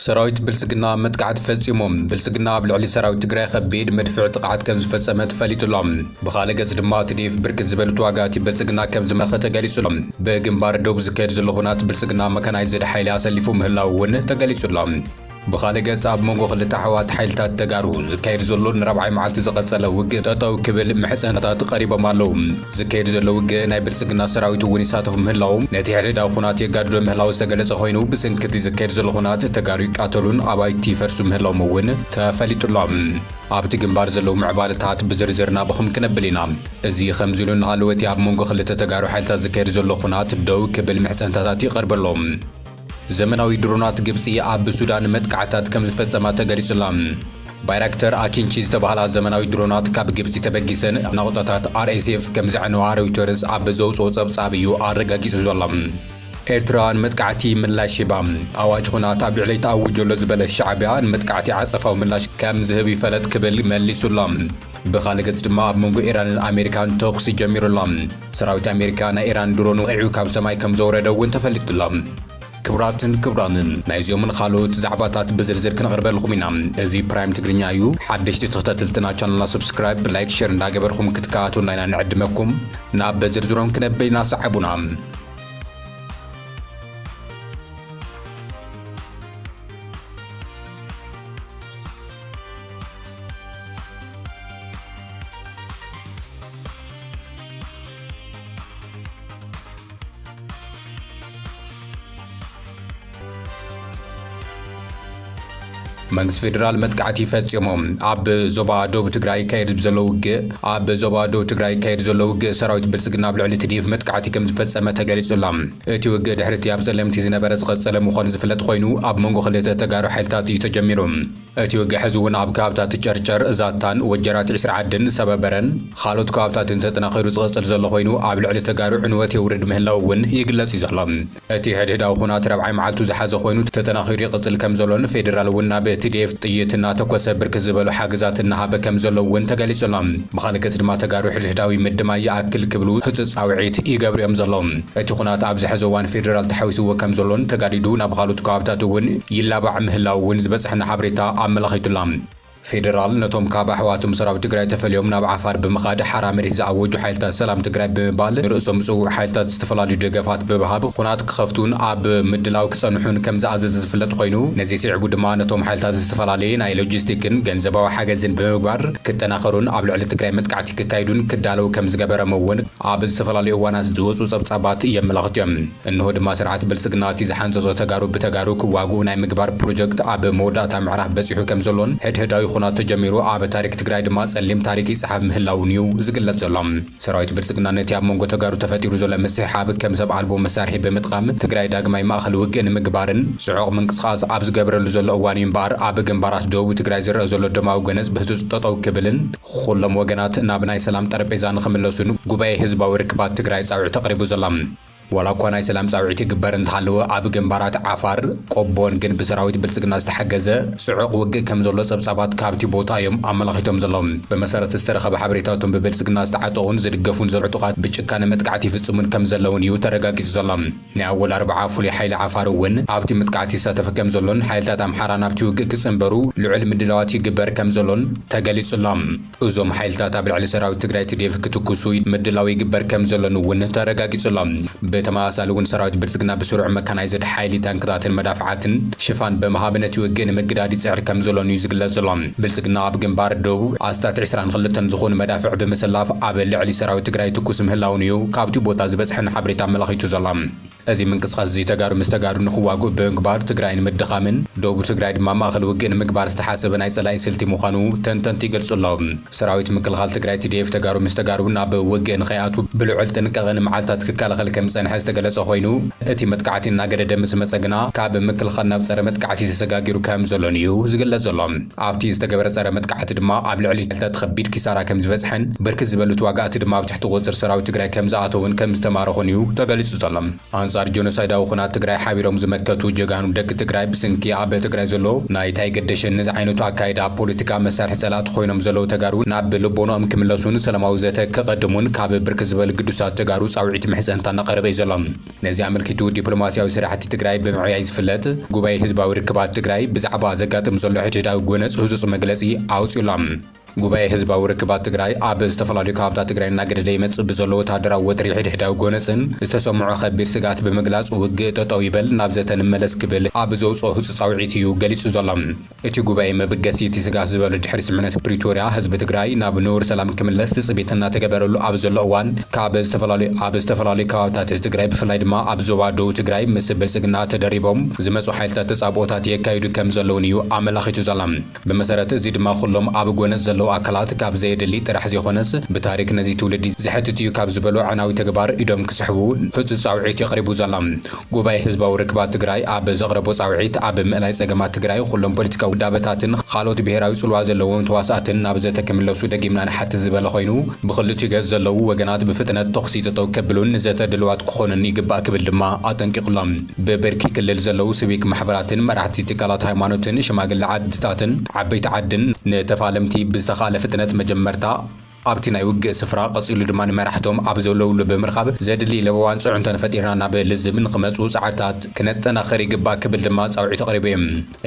ሰራዊት ብልፅግና መጥቃዕቲ ፈፂሙ። ብልፅግና ኣብ ልዕሊ ሰራዊት ትግራይ ኸቢድ መድፍዕ ጥቕዓት ከምዝፈፀመ ተፈሊጡ ኣሎ። ብኻልእ ገፅ ድማ ትዲኤፍ ብርክት ዝበሉ ተዋጋእቲ ብልፅግና ከምዝማረኸ ተገሊፁ ኣሎ። ብግንባር ዶብ ዝካየድ ዘሎ ኹናት ብልፅግና መካናይዝድ ሓይሊ ኣሰሊፉ ምህላዉ እውን ተገሊፁ ኣሎ። ብኻልእ ገፅ ኣብ መንጎ ኽልተ ኣሕዋት ሓይልታት ተጋሩ ዝካየድ ዘሎ ንራብዓይ መዓልቲ ዝቐፀለ ውግእ ጠጠው ክብል ምሕፀንታት ቐሪቦም ኣለዉ። ዝካየድ ዘሎ ውግእ ናይ ብልጽግና ሰራዊት እውን ይሳተፉ ምህላዉ ነቲ ሕድሕዳዊ ኹናት የጋድዶ ምህላዉ ዝተገለጸ ኾይኑ ብስንኪ እቲ ዝካየድ ዘሎ ኹናት ተጋሩ ይቃተሉን ኣባይቲ ይፈርሱ ምህላዎም እውን ተፈሊጡ ኣሎ። ኣብቲ ግንባር ዘለዉ ምዕባለታት ብዝርዝር ናባኹም ክነብል ኢና። እዚ ኸምዚ ኢሉ እናሃለወ እቲ ኣብ መንጎ ኽልተ ተጋሩ ሓይልታት ዝካየድ ዘሎ ኹናት ደው ክብል ምሕጸንታታት ይቐርበሎም። ዘመናዊ ድሮናት ግብጺ ኣብ ሱዳን መጥቃዕታት ከም ዝፈጸማ ተገሊጹ'ላ። ባይራክተር ኣኪንቺ ዝተባህላ ዘመናዊ ድሮናት ካብ ግብጺ ተበጊሰን ናቑጣታት ኣርኤስኤፍ ከም ዘዕነዋ ሮይተርስ ኣብ ዘውጽኦ ጸብጻብ እዩ ኣረጋጊጹ ዘሎ። ኤርትራ ንመጥቃዕቲ ምላሽ ሂባ። ኣዋጅ ኹናት ኣብ ልዕለይ ተኣዊጁ ኣሎ ዝበለ ሻዕብያ ንመጥቃዕቲ ዓጸፋዊ ምላሽ ከም ዝህብ ይፈለጥ ክብል መሊሱ ኣሎ። ብኻልእ ገጽ ድማ ኣብ መንጎ ኢራንን ኣሜሪካን ተኹሲ ጀሚሩ ኣሎ። ሰራዊት ኣሜሪካ ናይ ኢራን ድሮን ወቒዑ ካብ ሰማይ ከም ዘውረደ እውን ተፈሊጡ'ሎ። ክቡራትን ክቡራንን ናይዚኦምን ኻልኦት ዛዕባታት ብዝርዝር ክነቕርበልኹም ኢና። እዚ ፕራይም ትግርኛ እዩ። ሓደሽቲ ተኸታተልትና ቻነልና ሰብስክራይብ፣ ላይክ፣ ሼር እንዳገበርኹም ክትከታተሉና ኢና ንዕድመኩም። ናብ በዝርዝሮም ክነብል ኢና ሰዓቡና። መንግስቲ ፌዴራል መጥቃዕቲ ፈፂሙ ኣብ ዞባ ደቡብ ትግራይ ይካየድ ዘሎ ውግእ ኣብ ዞባ ደቡብ ትግራይ ይካየድ ዘሎ ውግእ ሰራዊት ብልፅግና ኣብ ልዕሊ ትዲፍ መጥቃዕቲ ከም ዝፈፀመ ተገሊጹ ኣሎ እቲ ውግእ ድሕሪ እቲ ኣብ ፀለምቲ ዝነበረ ዝቐፀለ ምዃኑ ዝፍለጥ ኮይኑ ኣብ መንጎ ክልተ ተጋሩ ሓይልታት እዩ ተጀሚሩ እቲ ውግእ ሕዚ'ውን ኣብ ከባብታት ጨርጨር፣ ዛታን፣ ወጀራት ዒስራ ዓድን፣ ሰበበረን ኻልኦት ከባብታትን ተጠናኺሩ ዝቕፅል ዘሎ ኾይኑ ኣብ ልዕሊ ተጋሩ ዕንወት የውርድ ምህላው እውን ይግለፅ እዩ ዘሎ። እቲ ሕድሕዳዊ ኹናት ራብዓይ መዓልቱ ዝሓዘ ኾይኑ ተጠናኺሩ ይቕፅል ከምዘሎን ፌዴራል እውን ናብ tdf ጥይት እናተኮሰ ብርክት ዝበሉ ሓገዛት እናሃበ ከምዘሎ እውን ተገሊፁ ኣሎ። ብኻሊእ ገፅ ድማ ተጋሩ ሕድሕዳዊ ምድማይ ይኣክል ክብሉ ህፁፅ ፃውዒት ይገብሩ እዮም ዘለዉ። እቲ ኹናት ኣብዚ ሐዚ እዋን ፌደራል ተሓዊስዎ ከምዘሎን ተጋዲዱ ናብ ኻልኦት ከባብታት እውን ይላባዕ ምህላው እውን ዝበፀሐና ሓበሬታ ኣመላኺቱላ። ፌደራል ነቶም ካብ ኣሕዋቶም ሰራዊት ትግራይ ተፈልዮም ናብ ዓፋር ብምኻድ ሓራ መሬት ዝኣወጁ ሓይልታት ሰላም ትግራይ ብምባል ንርእሶም ፅውዕ ሓይልታት ዝተፈላለዩ ደገፋት ብብሃብ ኹናት ክኸፍቱን ኣብ ምድላው ክፀንሑን ከምዝኣዘዘ ዝፍለጥ ኾይኑ ነዚ ስዒቡ ድማ ነቶም ሓይልታት ዝተፈላለየ ናይ ሎጂስቲክን ገንዘባዊ ሓገዝን ብምግባር ክጠናኸሩን ኣብ ልዕሊ ትግራይ መጥቃዕቲ ክካይዱን ክዳለው ከምዝገበረም እውን ኣብ ዝተፈላለዩ እዋናት ዝወፁ ፀብፃባት የመላኽቱ እዮም። እንሆ ድማ ስርዓት ብልፅግና እቲ ዝሓንፀፆ ተጋሩ ብተጋሩ ክዋግኡ ናይ ምግባር ፕሮጀክት ኣብ መወዳእታ ምዕራፍ በፂሑ ከምዘሎን ሕድሕዳዊ ኹናት ተጀሚሩ ኣብ ታሪክ ትግራይ ድማ ፀሊም ታሪክ ይፀሓፍ ምህላዉን እዩ ዝግለፅ ዘሎ። ሰራዊት ብልፅግና ነቲ ኣብ መንጎ ተጋሩ ተፈጢሩ ዘሎ ምስሕሓብ ከም ሰብ ኣልቦ መሳርሒ ብምጥቓም ትግራይ ዳግማይ ማእኸል ውግእ ንምግባርን ፅዑቕ ምንቅስቓስ ኣብ ዝገብረሉ ዘሎ እዋን እዩ እምበኣር ኣብ ግንባራት ደቡብ ትግራይ ዝረኣ ዘሎ ደማዊ ጎነፅ ብህፁፅ ጠጠው ክብልን ኹሎም ወገናት ናብ ናይ ሰላም ጠረጴዛ ንኽምለሱን ጉባኤ ህዝባዊ ርክባት ትግራይ ፃውዒት ኣቕሪቡ ዘሎ። ዋላ እኳ ናይ ሰላም ፃውዒት ይግበር እንተሃለወ ኣብ ግንባራት ዓፋር፣ ቆቦን ግን ብሰራዊት ብልፅግና ዝተሓገዘ ፅዑቕ ውግእ ከምዘሎ ፀብፃባት ካብቲ ቦታ እዮም ኣመላኺቶም ዘለዉ። ብመሰረት ዝተረኸበ ሓበሬታ እቶም ብብልፅግና ዝተዓጠቑን ዝድገፉን ዘሎ ዕጡቓት ብጭካነ መጥቃዕቲ ይፍፅሙን ከምዘለውን እዩ ተረጋጊፁ ዘሎ። ናይ ኣወል ኣርብዓ ፍሉይ ሓይሊ ዓፋር እውን ኣብቲ ምጥቃዕት ይሳተፍ ከምዘሎን ሓይልታት ኣምሓራ ናብቲ ውግእ ክፅንበሩ ልዑል ምድላዋት ይግበር ከምዘሎን ተገሊፁ ኣሎ። እዞም ሓይልታት ኣብ ልዕሊ ሰራዊት ትግራይ ትዴፍ ክትኩሱ ምድላው ይግበር ከምዘሎን እውን ተረጋጊፁ ኣሎ። ብተመሳሳሊ እውን ሰራዊት ብልፅግና ብስሩዕ መካናይዝድ ሓይሊ ታንክታትን መዳፍዓትን ሽፋን ብምሃብ ነቲ ውግእ ንምግዳድ ይፅዕር ከምዘሎን እዩ ዝግለፅ ዘሎ። ብልፅግና ኣብ ግንባር ደቡብ ኣስታት ዕስራን ኽልተን ዝኾኑ መዳፍዕ ብምስላፍ ኣብ ልዕሊ ሰራዊት ትግራይ ይትኩስ ምህላዉን እዩ ካብትኡ ቦታ ዝበፅሐና ሓበሬታ ኣመላኺቱ ዘሎ። እዚ ምንቅስቓስ እዚ ተጋሩ ምስ ተጋሩ ንኽዋግኡ ብምግባር ትግራይ ንምድኻምን ደቡብ ትግራይ ድማ ማእኸል ውግእ ንምግባር ዝተሓሰበ ናይ ፀላኢ ስልቲ ምዃኑ ተንተንቲ ይገልፁ ኣለው። ሰራዊት ምክልኻል ትግራይ፣ tdf፣ ተጋሩ ምስ ተጋሩ ናብ ውግእ ንኸይኣትዉ ብልዑል ጥንቃቐ ንመዓልታት ክከላኸል ከምዝፀንሐ ዝተገለፀ ኾይኑ፣ እቲ መጥቃዕቲ እናገደደ ምስ መጸ ግና ካብ ምክልኻል ናብ ጸረ መጥቃዕቲ ተሰጋጊሩ ከም ዘሎን እዩ ዝግለጽ ዘሎ። ኣብቲ ዝተገበረ ጸረ መጥቃዕቲ ድማ ኣብ ልዕሊ ክልተ ከቢድ ኪሳራ ከም ዝበጽሐን ብርክት ዝበሉ ተዋጋእቲ ድማ ኣብ ትሕቲ ቁጽጽር ሰራዊት ትግራይ ከም ዝኣተዉን ከም ዝተማረኹን እዩ ተገሊጹ ዘሎ። ኣንጻር ጆኖሳይዳዊ ኩናት ትግራይ ሓቢሮም ዝመከቱ ጀጋኑ ደቂ ትግራይ ብስንኪ ኣብ ትግራይ ዘሎ ናይ ታይገደሸኒ ዝዓይነቱ ኣካይዳ ፖለቲካ መሳርሒ ጸላእቲ ኮይኖም ዘለዉ ተጋሩ ናብ ልቦኖኦም ክምለሱን ሰላማዊ ዘተ ከቐድሙን ካብ ብርክት ዝበሉ ግዱሳት ተጋሩ ጻውዒት ምሕጸንታ እናቐረበ እዩ ዘሎ። ነዚ ኣመልኪቱ ዲፕሎማሲያዊ ስራሕቲ ትግራይ ብምዕያይ ዝፍለጥ ጉባኤ ህዝባዊ ርክባት ትግራይ ብዛዕባ ዘጋጥም ዘሎ ሕድሕዳዊ ጎነጽ ህጹጽ መግለጺ ኣውጺኡ ኣሎ። ጉባኤ ህዝባዊ ርክባት ትግራይ ኣብ ዝተፈላለዩ ከባብታት ትግራይ እናገደደ ይመጽእ ብዘሎ ወተሃደራዊ ወጥሪ ሕድሕዳዊ ጎነጽን ዝተሰምዖ ከቢድ ስግኣት ብምግላጽ ውግእ ጠጠው ይበል ናብ ዘተ ንመለስ ክብል ኣብ ዘውጽኦ ህጹጽ ጻውዒት እዩ ገሊጹ ዘሎ። እቲ ጉባኤ መበገሲ እቲ ስግኣት ዝበሎ ድሕሪ ስምምዕነት ፕሪቶርያ ህዝቢ ትግራይ ናብ ንቡር ሰላም ክምለስ ትፅቢት እናተገበረሉ ኣብ ዘሎ እዋን ካብ ዝተፈላለዩ ኣብ ዝተፈላለዩ ከባብታት ትግራይ ብፍላይ ድማ ኣብ ዞባ ደቡብ ትግራይ ምስ ብልፅግና ተደሪቦም ዝመፁ ሓይልታት ተፃብኦታት የካይዱ ከምዘለውን እዩ ኣመላኺቱ ዘሎ። ብመሰረት እዚ ድማ ኩሎም ኣብ ጎነፅ ዘለው ኣካላት ካብ ዘየድሊ ጥራሕ ዘይኾነስ ብታሪክ ነዚ ትውልዲ ዘሕትት እዩ ካብ ዝበሎ ኣዕናዊ ተግባር ኢዶም ክስሕቡ ህፁፅ ፃውዒት እዩ ቐሪቡ ዘሎ። ጉባኤ ህዝባዊ ርክባት ትግራይ ኣብ ዘቕረቦ ፃውዒት፣ ኣብ ምእላይ ፀገማት ትግራይ ኹሎም ፖለቲካዊ ውዳበታትን ኻልኦት ብሄራዊ ፅልዋ ዘለዎም ተዋሳእትን ናብ ዘተ ክምለሱ ደጊምና ንሓትት ዝበለ ኾይኑ፣ ብኽልቲኡ ገፅ ዘለዉ ወገናት ብፍጥነት ተኹሲ ጠጠው ከብሉን ንዘተ ድልዋት ክኾኑን ይግባእ ክብል ድማ ኣጠንቂቑ'ሎ። ብብርኪ ክልል ዘለዉ ስቪክ ማሕበራትን መራሕቲ ትካላት ሃይማኖትን ሽማግለ ዓድታትን ዓበይቲ ዓድን ንተፋለምቲ ብዝተኽኣለ ፍጥነት መጀመርታ፣ ኣብቲ ናይ ውግእ ስፍራ ቀጺሉ ድማ ንመራሕቶም ኣብ ዘለውሉ ብምርካብ ዘድሊ ለበዋን ጽዕንቶን ፈጢርና ናብ ልዝብ ንክመጽኡ ጸዓታት ክነጠናኽር ይግባእ ክብል ድማ ጻውዒት ኣቕሪቡ እዩ።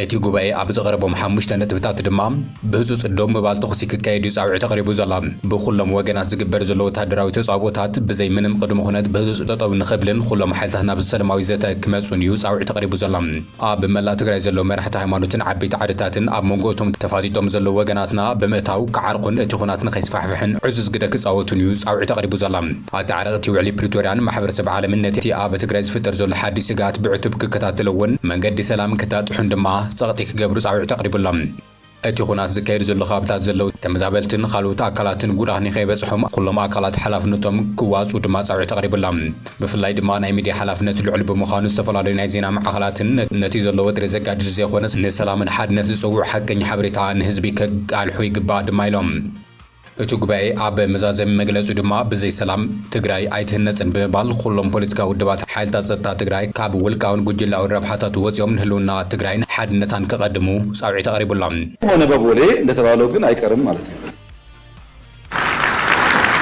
እቲ ጉባኤ ኣብ ዘቕረቦም ሓሙሽተ ነጥብታት ድማ ብህጹጽ ደው ምባል ተኹሲ ክካየድ እዩ ጻውዒት ኣቕሪቡ ዘሎ። ብኹሎም ወገናት ዝግበር ዘሎ ወተሃደራዊ ተጻብኦታት ብዘይ ምንም ቅድመ-ኩነት ብህጹጽ ጠጠው ንክብልን ኹሎም ሓይልታት ናብ ሰለማዊ ዘተ ክመጹን እዩ ጻውዒት ኣቕሪቡ ዘሎ። ኣብ መላእ ትግራይ ዘለዉ መራሕቲ ሃይማኖትን ዓበይቲ ዓድታትን ኣብ መንጎ እቶም ተፋጢጦም ዘለዉ ወገናትና ብምእታው ክዓርቁን እቲ ኹናት ንከይስፋሕፍሕን ዕዙዝ ግደ ክጻወቱን እዩ ጻውዒት ኣቕሪቡ ዘሎ። ኣተዓረቕቲ ውዕሊ ፕሪቶርያን ማሕበረሰብ ዓለምን ነቲ ኣብ ትግራይ ዝፍጠር ዘሎ ሓድሽ ስግኣት ብዕቱብ ክከታተልዎን መንገዲ ሰላም ክታጥሑን ድማ ጸቕጢ ክገብሩ ጻውዒት ኣቕሪቡ ኣሎ። እቲ ኹናት ዝካየድ ዘሎ ኻብታት ዘለው ተመዛበልትን ኻልኡት ኣካላትን ጉድኣት ንኸይበፅሖም ኹሎም ኣካላት ሓላፍነቶም ክዋፅኡ ድማ ፃውዒት ኣቕሪብላ። ብፍላይ ድማ ናይ ሚድያ ሓላፍነት ልዑል ብምዃኑ ዝተፈላለዩ ናይ ዜና ማዕኸላትን ነቲ ዘሎ ወጥሪ ዘጋድድ ዘይኾነስ ንሰላምን ሓድነት ዝፅውዕ ሓቀኛ ሓበሬታ ንህዝቢ ከቃልሑ ይግባእ ድማ ኢሎም። እቱ ጉባኤ ኣብ መዛዘሚ መግለፂኡ ድማ ብዘይ ሰላም ትግራይ ኣይትህነፅን ብምባል ኹሎም ፖለቲካዊ ውድባት ሓይልታት ፀጥታ ትግራይ ካብ ውልቃዊን ጉጅላዊን ረብሓታቱ ወፂኦም ንህልውና ትግራይን ሓድነታን ከቐድሙ ፃውዒት ኣቕሪቡ ኣሎ። ሆነ በቦሌ እንደተባለው ግን ኣይቀርም ማለት ነው።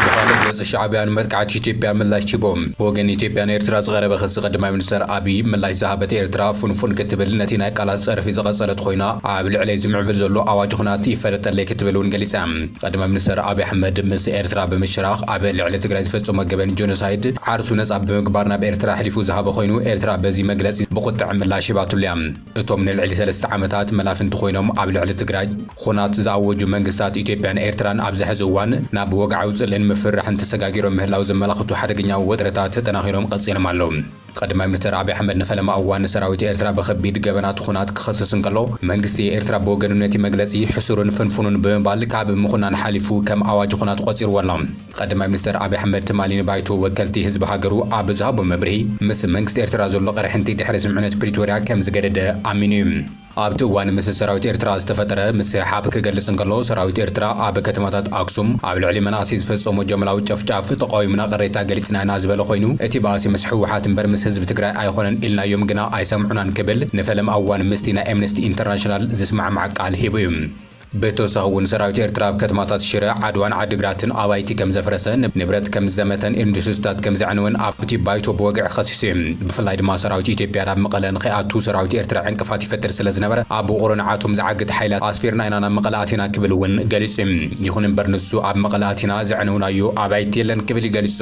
ብኻልእ ገፅ ሻዕቢያ ንመጥቃዕቲ ኢትዮጵያ ምላሽ ሂቡ። ብወገን ኢትዮጵያ ንኤርትራ ዝቐረበ ክሲ ቀዳማይ ሚኒስተር ኣብይ ምላሽ ዝሃበት ኤርትራ ፍንፉን ክትብል ነቲ ናይ ቃላት ፀርፊ ዝቐፀለት ኾይና፣ ኣብ ልዕለይ ዝምዕብል ዘሎ ኣዋጅ ኹናት ይፈለጠለይ ክትብል እውን ገሊጻ። ቐድመ ምኒስተር ኣብይ ኣሕመድ ምስ ኤርትራ ብምሽራኽ ኣብ ልዕሊ ትግራይ ዝፈጸሞ ገበን ጀኖሳይድ ዓርሱ ነጻ ብምግባር ናብ ኤርትራ ኣሕሊፉ ዝሃበ ኾይኑ ኤርትራ በዚ መግለጺ ብቑጥዐ ምላሽ ሂባትሉ እያ። እቶም ንልዕሊ ሰለስተ ዓመታት መላፍንቲ ኾይኖም ኣብ ልዕሊ ትግራይ ኹናት ዝኣወጁ መንግስታት ኢትዮጵያን ኤርትራን ኣብዚ ሐዚ እዋን ናብ ወግዓዊ ጽልእን ምፍርራሕን ተሰጋጊሮም ምህላው ዘመላኽቱ ሓደገኛ ወጥሪታት ተጠናኺሮም ቐጺሎም ኣለው። ቐዳማይ ሚኒስተር ኣቢይ ኣሕመድ ንፈለማ እዋን ንሰራዊት ኤርትራ ብኸቢድ ገበናት ኹናት ክኸስስ እንከሎ፣ መንግስቲ ኤርትራ ብወገኑ ነቲ መግለጺ ሕሱርን ፍንፉንን ብምባል ካብ ምኹናን ሓሊፉ ከም ኣዋጅ ኹናት ቖጺርዎ ኣሎ። ቐዳማይ ሚኒስተር ኣቢይ ኣሕመድ ትማሊ ንባይቶ ወከልቲ ህዝቢ ሃገሩ ኣብ ዝሃቦ መብርሂ፣ ምስ መንግስቲ ኤርትራ ዘሎ ቕርሕንቲ ድሕሪ ስምምዕነት ፕሪቶርያ ከም ዝገደደ ኣሚኑ እዩ። ኣብቲ እዋን ምስ ሰራዊት ኤርትራ ዝተፈጠረ ምስሕሓብ ክገልጽ እንከሎ፣ ሰራዊት ኤርትራ ኣብ ከተማታት ኣክሱም ኣብ ልዕሊ መናእሰይ ዝፈጸሞ ጃምላዊ ጨፍጫፍ ተቓዊምና ቅሬታ ገሊጽና ኢና ዝበለ ኮይኑ፣ እቲ ባእሲ ምስ ህወሓት እምበር ምስ ህዝቢ ትግራይ ኣይኾነን ኢልናዮም ግና ኣይሰምዑናን ክብል ንፈለማ እዋን ምስቲ ናይ ኤምነስቲ ኢንተርናሽናል ዝስማዕማዕ ቃል ሂቡ እዩ። ብተወሳኺ እውን ሰራዊት ኤርትራ ኣብ ከተማታት ሽረ፣ ዓድዋን ዓዲግራትን ኣባይቲ ከም ዘፍረሰ፣ ንብረት ከም ዝዘመተን ኢንዱስሪታት ከም ዘዕነወን ኣብቲ ባይቶ ብወግዒ ከሲሱ እዩ። ብፍላይ ድማ ሰራዊት ኢትዮጵያ ናብ መቐለ ንከይኣቱ ሰራዊት ኤርትራ ዕንቅፋት ይፈጥር ስለ ዝነበረ ኣብ ውቕሮ ንዓቶም ዝዓግት ሓይላት ኣስፊርና ኢና ናብ መቐለ ኣቲና ክብል እውን ገሊጹ እዩ። ይኹን እምበር ንሱ ኣብ መቐለ ኣቲና ዘዕነውናዮ ኣባይቲ የለን ክብል እዩ ገሊጹ።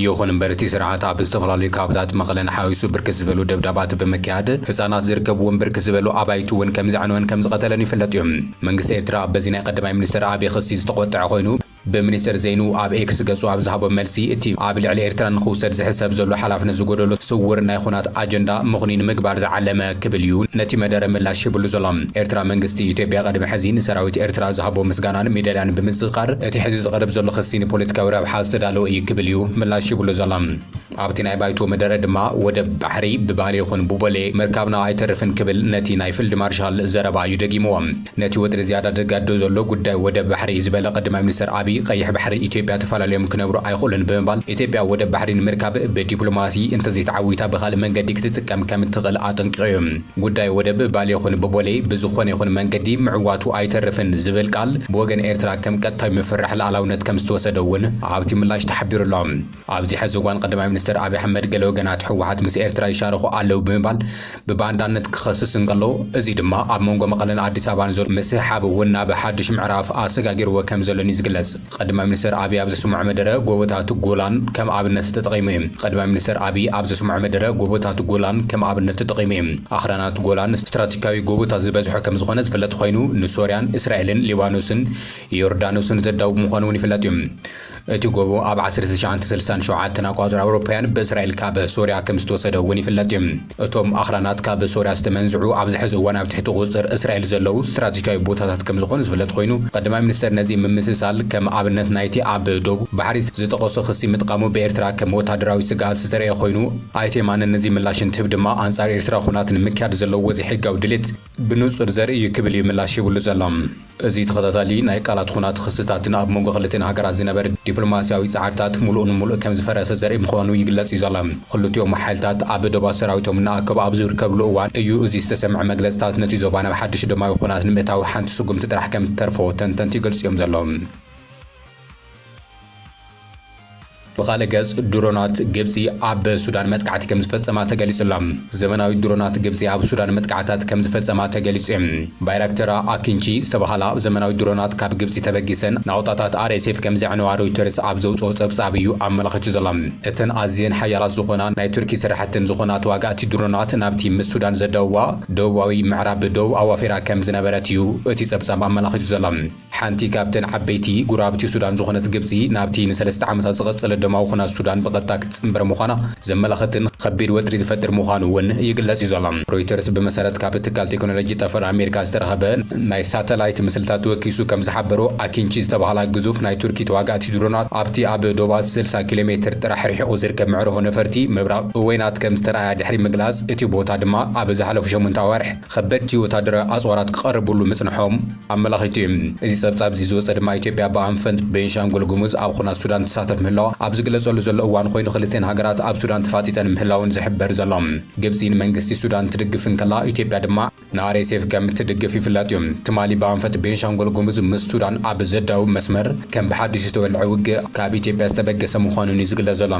ይኹን እምበር እቲ ስርዓት ኣብ ዝተፈላለዩ ከባብታት መቐለን ሓዊሱ ብርክት ዝበሉ ደብዳባት ብምክያድ ህፃናት ዝርከብዎም ብርክት ዝበሉ ኣባይቲ እውን ከምዘዕነወን ከምዝቐተለን ይፍለጥ እዩ። መንግስቲ ኤርትራ በዚ ናይ ቀዳማይ ሚኒስተር ኣብይ ክሲ ዝተቖጠዐ ኮይኑ ብሚኒስተር ዘይኑ ኣብ ኤክስ ገፁ ኣብ ዝሃቦ መልሲ እቲ ኣብ ልዕሊ ኤርትራ ንኽውሰድ ዝሕሰብ ዘሎ ሓላፍነት ዝጎደሎ ስውር ናይ ኹናት ኣጀንዳ ምኽኑይ ንምግባር ዝዓለመ ክብል እዩ ነቲ መደረ ምላሽ ሂብሉ ዘሎ። ኤርትራ መንግስቲ ኢትዮጵያ ቅድሚ ሕዚ ንሰራዊት ኤርትራ ዝሃቦ ምስጋናን ሚደልያን ብምዝኽኻር እቲ ሕዚ ዝቐርብ ዘሎ ክሲ ንፖለቲካዊ ረብሓ ዝተዳለወ እዩ ክብል እዩ ምላሽ ሂብሉ ዘሎ። ኣብቲ ናይ ባይቶ መደረ ድማ ወደብ ባሕሪ ብባሌ ይኹን ብቦሌ ምርካብና ኣይተርፍን ክብል ነቲ ናይ ፊልድ ማርሻል ዘረባ እዩ ደጊምዎ። ነቲ ወጥሪ ዝያዳ ዘጋድዶ ዘሎ ጉዳይ ወደብ ባሕሪ እዩ ዝበለ ቀዳማይ ሚኒስተር ኣብይ፣ ቐይሕ ባሕሪ ኢትዮጵያ ተፈላልዮም ክነብሩ ኣይኽእሉን ብምባል፣ ኢትዮጵያ ወደብ ባሕሪ ንምርካብ ብዲፕሎማሲ እንተዘይተዓዊታ ብኻልእ መንገዲ ክትጥቀም ከምትኽእል ኣጠንቂቑ እዩ። ጉዳይ ወደብ ባሌ ይኹን ብቦሌ ብዝኾነ ይኹን መንገዲ ምዕዋቱ ኣይተርፍን ዝብል ቃል ብወገን ኤርትራ ከም ቀጥታዊ ምፍርራሕ ልኣላውነት ከምዝተወሰደ እውን ኣብቲ ምላሽ ተሓቢሩ ኣሎ። ኣብዚ ሐዚ እዋን ቐዳማይ ሚኒስትር ኣብይ ኣሕመድ ገለ ወገናት ህወሓት ምስ ኤርትራ ይሻረኹ ኣለው ብምባል ብባንዳነት ክኸስስ እንከሎ እዙይ ድማ ኣብ መንጎ መቐለን ኣዲስ ኣበባን ዘሎ ምስሕሓብ እውን ናብ ሓዱሽ ምዕራፍ ኣሰጋጊርዎ ከምዘሎን እዩ ዝግለፅ። ቐዳማይ ሚኒስትር ኣብይ ኣብ ዘስምዖ መደረ ጎቦታት ጎላን ከም ኣብነት ተጠቒሙ እዩ። ቐዳማይ ሚኒስትር ኣብይ ኣብ ዘስምዖ መደረ ጎቦታት ጎላን ከም ኣብነት ተጠቒሙ እዩ። ኣኽራናት ጎላን ስትራቴጂካዊ ጎቦታት ዝበዝሖ ከምዝኾነ ዝፍለጥ ኾይኑ ንሶርያን እስራኤልን ሊባኖስን ዮርዳኖስን ዘዳውብ ምዃኑ እውን ይፍለጥ እዩ። እቲ ጎቦ ኣብ ዓሰርተ ትሽዓተ ስልሳን ሸውዓተን ኣቋጽራ ኣውሮፓውያን ብእስራኤል ካብ ሶርያ ከም ዝተወሰደ እውን ይፍለጥ እዩ። እቶም ኣኽራናት ካብ ሶርያ ዝተመንዝዑ ኣብዚ ሕዚ እዋን ኣብ ትሕቲ ቁጽጽር እስራኤል ዘለዉ ስትራቴጂካዊ ቦታታት ከም ዝኾኑ ዝፍለጥ ኮይኑ ቀዳማይ ሚኒስተር ነዚ ምምስሳል ከም ኣብነት ናይቲ ኣብ ዶብ ባሕሪ ዝጠቐሶ ክሲ ምጥቃሙ ብኤርትራ ከም ወታደራዊ ስግኣት ዝተረኤ ኮይኑ ኣይተ የማነ ነዚ ምላሽ እንትህብ ድማ ኣንጻር ኤርትራ ኹናት ንምክያድ ዘለዎ ዘይሕጋዊ ድሌት ብንጹር ዘርኢ እዩ ክብል እዩ ምላሽ ሂብሉ ዘሎ። እዚ ተኸታታሊ ናይ ቃላት ኹናት ኽስታትን ኣብ መንጎ ክልቲኤን ሃገራት ዝነበረ ዲፕሎማሲያዊ ጻዕርታት ምሉእ ንምሉእ ከም ዝፈረሰ ዘርኢ ምዃኑ ይግለጽ እዩ ዘሎ። ኽልቲኦም ሓይልታት ኣብ ዶባት ሰራዊቶም እናኣከቡ ኣብ ዝርከብሉ እዋን እዩ እዚ ዝተሰምዐ። መግለጽታት ነቲ ዞባ ናብ ሓድሽ ደማዊ ኹናት ንምእታው ሓንቲ ስጉምቲ ጥራሕ ከም እትተርፎ ተንተንቲ ይገልጹ እዮም ዘለዉ። ብኻልእ ገጽ ድሮናት ግብጺ ኣብ ሱዳን መጥቃዕቲ ከምዝፈጸማ ተገሊጹ ኣሎ። ዘመናዊት ድሮናት ግብጺ ኣብ ሱዳን መጥቃዕታት ከምዝፈጸማ ተገሊጹ እዩ። ባይራክተራ ኣኪንቺ ዝተባህላ ዘመናዊት ድሮናት ካብ ግብጺ ተበጊሰን ናቑጣታት ኣርኤስኤፍ ከምዘዕነዋ ሮይተርስ ኣብ ዘውጽኦ ጸብጻብ እዩ ኣመላኺቱ ዘሎ። እተን ኣዝየን ሓያላት ዝኾና ናይ ቱርኪ ስራሕተን ዝኾና ተዋጋእቲ ድሮናት ናብቲ ምስ ሱዳን ዘዳውባ ደቡባዊ ምዕራብ ዶብ ኣዋፊራ ከምዝነበረት እዩ እቲ ጸብጻብ ኣመላኺቱ ዘሎ። ሓንቲ ካብተን ዓበይቲ ጉራብቲ ሱዳን ዝኾነት ግብጺ ናብቲ ንሰለስተ ዓመታት ዝቐጸለ ደማዊ ኩናት ሱዳን ብቐጥታ ክትጽንበር ምዃና ዘመላኽትን ኸቢድ ወጥሪ ዝፈጥር ምዃኑ እውን ይግለጽ እዩ ዘሎ። ሮይተርስ ብመሰረት ካብ ትካል ቴክኖሎጂ ጠፈር ኣሜሪካ ዝተረኸበ ናይ ሳተላይት ምስልታት ወኪሱ ከም ዝሓበሮ ኣኪንቺ ዝተባህላ ግዙፍ ናይ ቱርኪ ተዋጋእቲ ድሮናት ኣብቲ ኣብ ዶባት ስልሳ ኪሎ ሜትር ጥራሕ ርሒቑ ዝርከብ መዕርፎ ነፈርቲ ምብራቕ ኡወይናት ከም ዝተርኣያ ድሕሪ ምግላጽ እቲ ቦታ ድማ ኣብ ዝሓለፉ ሸሞንተ ኣዋርሕ ኸበድቲ ወታደራዊ ኣጽዋራት ክቐርብሉ ምጽንሖም ኣመላኺቱ እዩ። እዚ ጸብጻብ እዚ ዝወጸ ድማ ኢትዮጵያ ብኣንፈት ቤንሻንጉል ጉሙዝ ኣብ ኹናት ሱዳን ትሳተፍ ምህላዋ ኣብ ዝግለጸሉ ዘሎ እዋን ኾይኑ ኽልቲኣን ሃገራት ኣብ ሱዳን ተፋጢጠን ምህላወን ዝሕበር ዘሎ። ግብጺ ንመንግስቲ ሱዳን ትድግፍ እንከላ ኢትዮጵያ ድማ ንኣርኤስኤፍ ከም እትድግፍ ይፍለጥ እዩ። ትማሊ ብኣንፈት ቤንሻንጉል ጉሙዝ ምስ ሱዳን ኣብ ዘዳውብ መስመር ከም ብሓዱሽ ዝተወልዐ ውግእ ካብ ኢትዮጵያ ዝተበገሰ ምዃኑን እዩ ዝግለጽ ዘሎ።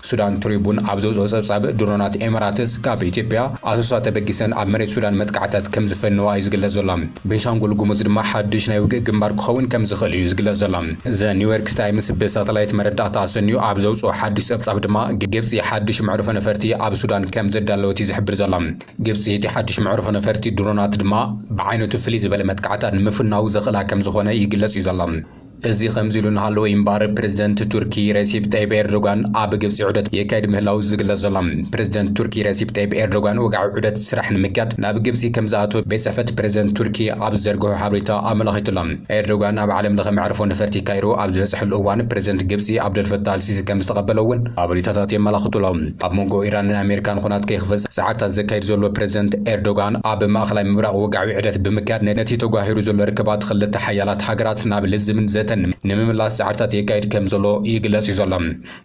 ሱዳን ትሪቡን ኣብ ዘውጽኦ ጸብጻብ፣ ድሮናት ኤምራትስ ካብ ኢትዮጵያ፣ ኣሶሳ ተበጊሰን ኣብ መሬት ሱዳን መጥቃዕትታት ከም ዝፈነዋ እዩ ዝግለጽ ዘሎ። ቤንሻንጉል ጉሙዝ ድማ ሓድሽ ናይ ውግእ ግንባር ክኸውን ከም ዝኽእል እዩ ዝግለጽ ዘሎ። ዘ ኒውዮርክስ ታይምስ ብሳተላይት መረዳእታ ኣሰንዩ ኣብ ዘውጽኦ ሓድሽ ጸብጻብ ድማ፣ ግብጺ ሓድሽ መዕርፎ ነፈርቲ ኣብ ሱዳን ከም ዘዳለወት እዩ ዝሕብር ዘሎ። ግብጺ እቲ ሓድሽ መዕርፎ ነፈርቲ ድሮናት ድማ ብዓይነቱ ፍልይ ዝበለ መጥቃዕትታት ንምፍናው ዘኽእላ ከም ዝኾነ ይግለጽ እዩ ዘሎ። እዚ ከምዚሉ እናሃለወ እዩ እምበኣር ፕረዚደንት ቱርኪ ረሲፕ ጠይብ ኤርዶጋን ኣብ ግብፂ ዑደት የካይድ ምህላው ዝግለፅ ዘሎ። ፕረዚደንት ቱርኪ ረሲፕ ጠይብ ኤርዶጋን ወግዓዊ ዑደት ስራሕ ንምክያድ ናብ ግብፂ ከምዝኣተወ ቤት ፅሕፈት ፕረዚደንት ቱርኪ ኣብ ዝዘርግሖ ሓበሬታ ኣመላኺቱ ኣሎ። ኤርዶጋን ኣብ ዓለም ለኸ መዕርፎ ነፈርቲ ካይሮ ኣብ ዝበፅሐሉ እዋን ፕረዚደንት ግብፂ ኣብደል ፈታህ ኣልሲሲ ከምዝተቐበሎ እውን ሓበሬታታት የመላኽቱ ኣሎ። ኣብ መንጎ ኢራንን ኣሜሪካን ኹናት ከይክፈፀም ፃዕርታት ዘካይድ ዘሎ ፕረዚደንት ኤርዶጋን ኣብ ማእኸላይ ምብራቕ ወግዓዊ ዕደት ብምክያድ ነቲ ተጓሂሩ ዘሎ ርክባት ኽልተ ሓያላት ሃገራት ናብ ልዝብን ዘተን ንምምላስ ጻዕርታት የካይድ ከም ዘሎ ይግለጽ እዩ ዘሎ።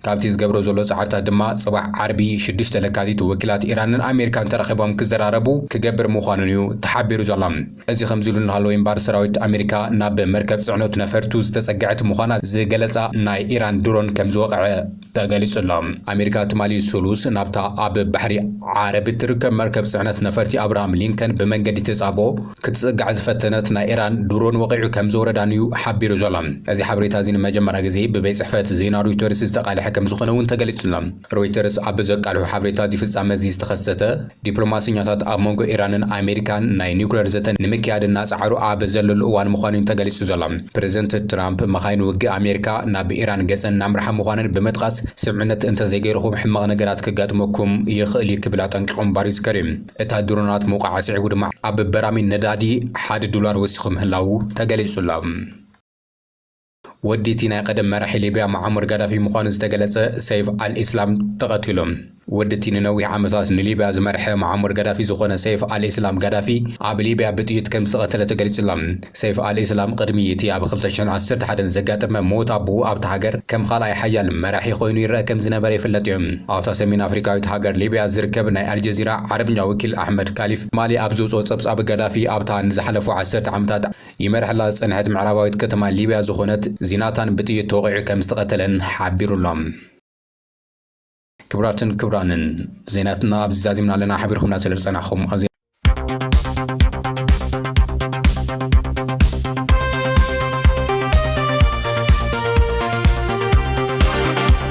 ካብቲ ዝገብሮ ዘሎ ጻዕርታት ድማ ጽባሕ ዓርቢ ሽዱሽተ ለካቲት ወኪላት ኢራንን ኣሜሪካን ተራኺቦም ክዘራረቡ ክገብር ምዃኑን እዩ ተሓቢሩ ዘሎ። እዚ ከምዚሉ እናሃለወ እምባር ሰራዊት ኣሜሪካ ናብ መርከብ ጽዕኖት ነፈርቱ ዝተጸግዐት ምዃና ዝገለጻ ናይ ኢራን ድሮን ከም ዝወቕዐ ተገሊጹ'ሎ። ኣሜሪካ ትማሊ ሰሉስ ናብታ ኣብ ባሕሪ ዓረብ እትርከብ መርከብ ጽዕነት ነፈርቲ ኣብርሃም ሊንከን ብመንገዲ ተጻብኦ ክትጽጋዕ ዝፈተነት ናይ ኢራን ድሮን ወቒዑ ከምዝወረዳን'ዩ ሓቢሩ ዘሎ። እዚ ሓበሬታ'ዚ ንመጀመርያ ግዜ ብቤት ጽሕፈት ዜና ሮይተርስ ዝተቓልሐ ከምዝኾነ'ውን ተገሊጹ'ሎ። ሮይተርስ ኣብ ዘቃልሖ ሓበሬታ እዚ ፍጻመ'ዚ ዝተኸሰተ ዲፕሎማሰኛታት ኣብ መንጎ ኢራንን ኣሜሪካን ናይ ኒዩክለር ዘተ ንምክያድ እናጸዓሩ ኣብ ዘለሉ እዋን ምዃኑ'ዩ ተገሊጹ ዘሎ። ፕረዚደንት ትራምፕ መኻይን ውግእ ኣሜሪካ ናብ ኢራን ገጸን እናምርሓ ምዃነን ብምጥቓስ ስምዕነት እንተዘይገይርኹም ሕማቕ ነገራት ከጋጥመኩም ይኽእል'ዩ ክብል ኣጠንቂቑ ምንባሩ ይዝከር'ዩ። እታ ድሮናት ምውቃዓ ስዒቡ ድማ ኣብ በራሚል ነዳዲ ሓደ ዶላር ወሲኹ ምህላዉ ተገሊጹ'ሎ። ወዲ እቲ ናይ ቐደም መራሒ ሊብያ መዓሙር ጋዳፊ ምዃኑ ዝተገለጸ ሰይፍ ኣልኢስላም ተቐቲሉ። ወዲ እቲ ንነዊሕ ዓመታት ንሊብያ ዝመርሐ መዓሙር ጋዳፊ ዝኾነ ሰይፍ ኣልኢስላም ጋዳፊ ኣብ ሊብያ ብጥይት ከምዝተቐተለ ተገሊጹ'ሎ። ሰይፍ ኣልኢስላም ቕድሚ እቲ ኣብ ክልተ ሽሕን ዓሰርተ ሓደን ዘጋጠመ ሞት ኣቦኡ ኣብታ ሃገር ከም ኻልኣይ ሓያል መራሒ ኾይኑ ይረኣ ከምዝነበረ ይፍለጥ'ዩ። ኣብታ ሰሜን ኣፍሪቃዊት ሃገር ሊብያ ዝርከብ ናይ ኣልጀዚራ ዓረብኛ ወኪል ኣሕመድ ካሊፍ ትማሊ ኣብ ዘውጽኦ ጸብጻብ ጋዳፊ ኣብታ ንዝሓለፉ ዓሰርተ ዓመታት ይመርሐላ ዝጸንሐት ምዕራባዊት ከተማ ሊብያ ዝኾነት ዚናታን ብጥይት ተወቒዑ ከም ዝተቐተለን ሓቢሩ ኣሎ። ክብራትን ክብራንን ዜናትና ኣብዚ ዛዚምና ኣለና ሓቢርኩምና ስለ ዝጸናሕኩም ኣዝና